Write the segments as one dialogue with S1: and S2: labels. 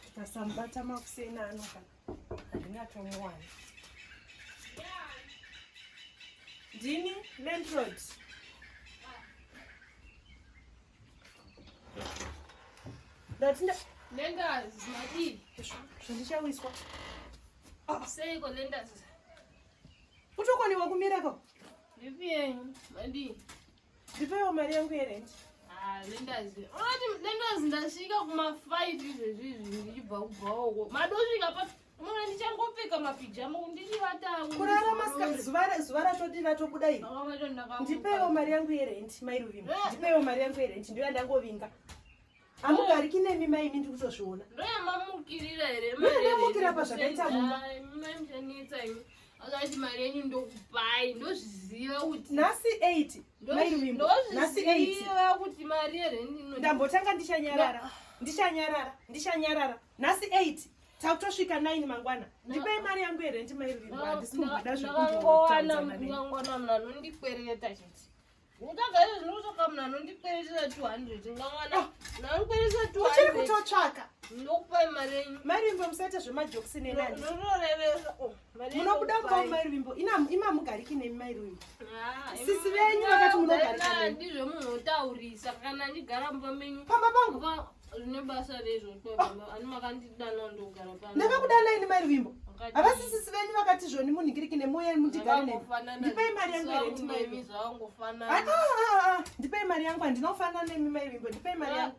S1: Ndikasamubata makuseni ano kana handingatomuwani. Ndini landlord. Ndati nda Lenders
S2: madii? zvandichawiswa. Seiko lenders?
S1: Kutokoniwa kumira ko. Ndipiyei
S2: madii? Ndipeiwo
S1: mari yangu yerent. Ah, lendazi.
S2: Unoti lendazi ndasvika kumafight izvezvi izvi ndichibva kubvawo. Madosvika pa Mwana ndichangopfeka mapijama ndichivatawo. Kurara masika
S1: zuva zuva ratodi ratobuda iri. Ndipeiwo mari yangu yerent, mai Ruvimbo. Eh. Ndipeiwo mari yangu yerent ndiyo yandangovinga. Hamugariki nemi mai imi ndikutozviona. Ndoyamamukirira
S2: here? Ndoyamamukira pazvakaita
S1: mumba.
S2: Akati mari yenyu ndokupai ndozviziva kuti nhasi
S1: 8 mai Ruvimbo nhasi 8 kuti mari
S2: yerendi ndambotanga ndichanyarara
S1: ndichanyarara ndichanyarara nhasi 8 takutosvika 9 mangwana ndipei mari yangu yerendi mai Ruvimbo handisi kumboda zvekuona mangwana
S2: mnanondikwereta chete uchiri kutotsvaka marimbo musaita
S1: zvemajokisi nenanimunobuda kuva marimbo imamugariki nemi mairwimbo sisi venyu vakati munogarika ndizvo munotaurisa
S2: kana ndigara mumba menyu pamba pangu ndakakudana ini mai ruvimbo
S1: havasisisi venyu vakati zvoni munhingiriki nemoya mundigare ne ndipei mari yangu eretimai ah, ah, ah, ndipei mari yangu handina kufanana nemi mai
S2: ruvimbo ndipei mari yangu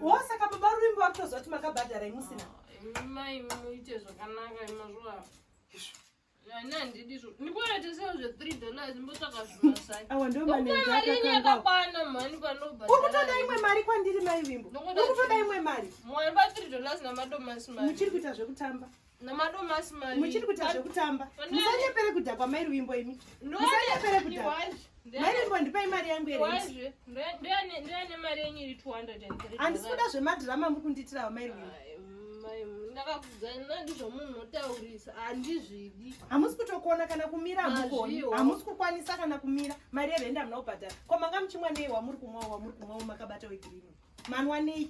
S2: wo saka baba ruvimbo
S1: vakutozoti makabhadhara imusina mai
S2: muite zvakanaka imazvaa awa ndiwo manenzi
S1: akakangaukutoda
S2: imwe mari
S1: kwandiri mai vimbo ukutoda imwe mari
S2: muchiri kuita zvekutamba muchiri kuita zvekutamba
S1: musanyepere kudhakwa mai ruvimbo imi musanyepere kudhakwa Mairembo ndipai mari yangu yerenti. Ndoyane
S2: mari yenyu iri 203. Handisi kuda zvemadhirama
S1: mukundiitirawo mairembo. Ndakakudzana
S2: ndizvo munhu notaurisa handizvidi. Hamusi kutokuona
S1: kana kumira hamukoni. Hamusi kukwanisa kana kumira. Mari yerenti hamuna kubhadhara. Ko manga muchimwa nei wamuri kumwa wamuri kumwa makabata wegirini. Manwa nei?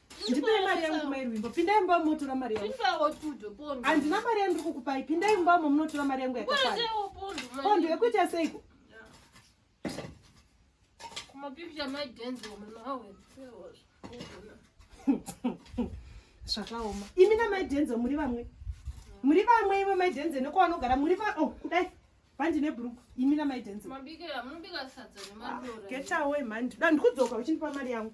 S1: ndipei mari yangu mai rwimbo pindai mba munotora mari yangu
S2: handina mari yandiri kukupai
S1: pindai mba mo munotora mari yangu yakakwana pondo yekuita seiko zvakaoma imi namai denzo muri vamwe muri vamwe ivo mai denzo nekwavanogara muri va o oh, kudai pandine bruku imi namai denzel get away
S2: mhani
S1: ndikudzoka uchindipa
S2: mari
S1: yangu